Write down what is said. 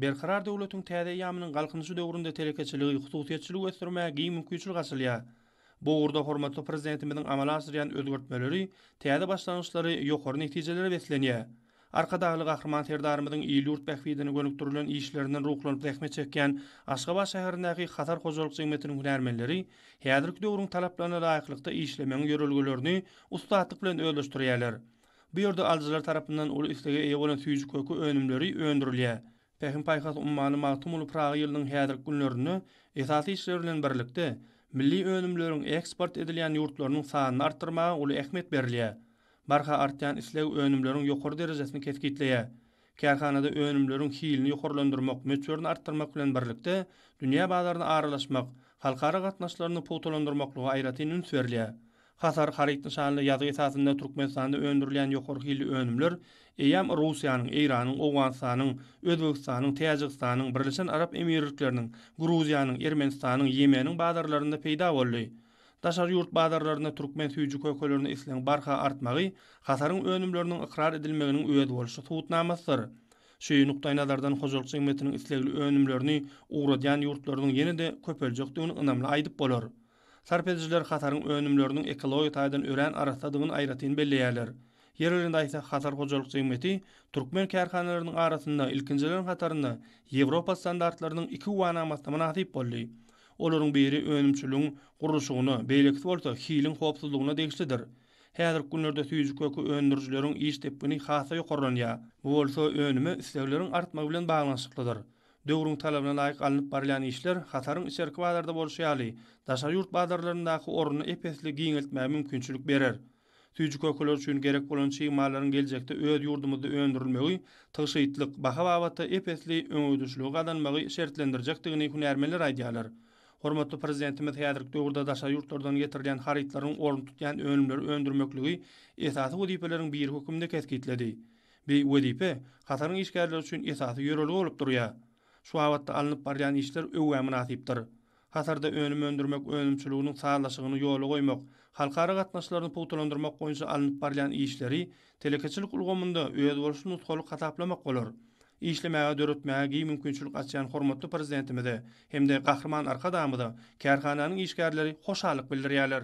Berkarar döwletiň täze eýýamynyň Galkynyşy döwründe telekeçiligi, hususyýetçiligi ösdürmäge giň mümkinçilik açylýar. Bu ugurda hormatly Prezidentimiziň amala aşyrýan özgertmeleri, täze başlangyçlary ýokary netijelere beslenýär. Arkadagly Gahryman Serdarymyzyň il-ýurt bähbidine gönükdirilen işlerinden ruhlanyp zähmet çekýän Aşgabat şäherindäki Hatar hojalyk jemgyýetiniň hünärmenleri häzirki döwrüň talaplaryna laýyklykda işlemegiň ýörelgelerini ussatlyk bilen özleşdirýärler. Bu ýerde alyjylar tarapyndan uly islege eýe bolan süýji köki önümleri öndürilýär. Pähim-paýhas ummany Magtymguly Pyragy ýylynyň häzirki günlerinde esasy işler bilen birlikde, milli önümleriň eksport edilýän ýurtlarynyň sanyny artdyrmaga uly ähmiýet berilýär. Barha artýan isleg önümleriň ýokary derejesini kesgitleýär. Kärhanada önümleriň hilini ýokarlandyrmak, möçberini artdyrmak bilen birlikde, dünýä bazaryna aralaşmak, halkara gatnaşyklaryny pugtalandyrmaklyga aýratyn üns berilýär. Hasar haryt nyşanly ýazgy esasynda Türkmenistanda öndürilýän ýokary hilli önümler eýýäm Russiýanyň, Eýranyň, Owganystanyň, Özbegistanyň, Täjigistanyň, Birleşen Arap Emirlikleriniň, Gruziýanyň, Ermenistanyň, Ýemeniň bazarlarynda peýda boldy. Daşary ýurt bazarlarynda türkmen süýji kökelerine islegiň barha artmagy hataryň önümleriniň ykrar edilmeginiň özboluşly subutnamasydyr. Şu nukdaýnazardan hojalyk jemgyýetiniň islegli önümlerini ugradýan ýurtlarynyň ýene-de köpeljekdigini ynamly aýdyp bolar. Sarp edijiler hataryň önümleriniň ekologiýa taýdan örän arassadygyny aýratyn belleýärler. Ýerlerinde aýtsak, Hatar hojalyk jemgyýeti türkmen kärhanalarynyň arasynda ilkinjileriň hatarynda Ýewropa standartlarynyň iki güwanamasyna mynasyp boldy. Olaryň biri önümçiligiň gurluşygyna, beýlekisi bolsa hiliň howpsuzlygyna degişlidir. Häzirki günlerde süýji köki öndürijileriň iş depgini has-da ýokarlanýar. Bu bolsa önüme islegleriň artmagy bilen baglanyşyklydyr. Döwrüň talabyna laýyk alnyp barylýan işler hataryň içerki bazarda bolşy ýaly, daşary ýurt bazarlaryndaky ornuny ep-esli giňeltmäge mümkinçilik berer. Süýji kökeler üçin gerek bolan çig mallaryň geljekde öz ýurdumyzda öndürilmegi tygşytlyk, baha babatda ep-esli öňegidişligi gazanmagy şertlendirjekdigini hünärmenler aýdýarlar. Hormatly Prezidentimiz häzirki döwürde daşary ýurtlardan getirilýän harytlaryň orun tutýan önümleri öndürmekligi esasy wezipeleriň biri hökmünde kesgitledi. Bi wezipe Kataryň işgärleri üçin esasy ýörelge bolup durýar. Şu babatda alnyp barylýan işler öwgä mynasypdyr. hatarda önüm öndürmek önümçiliginiň sazlaşygyny ýola goýmak, halkara gatnaşyklaryny pugtalandyrmak boýunça alnyp barylýan işleri telekeçilik ulgamynda özboluşly nusgalyk hasaplamak bolar. Işlemäge, döretmäge giň mümkinçilik açýan hormatly Prezidentimize hem-de Gahryman Arkadagymyza kärhananyň işgärleri hoşallyk bildirýärler.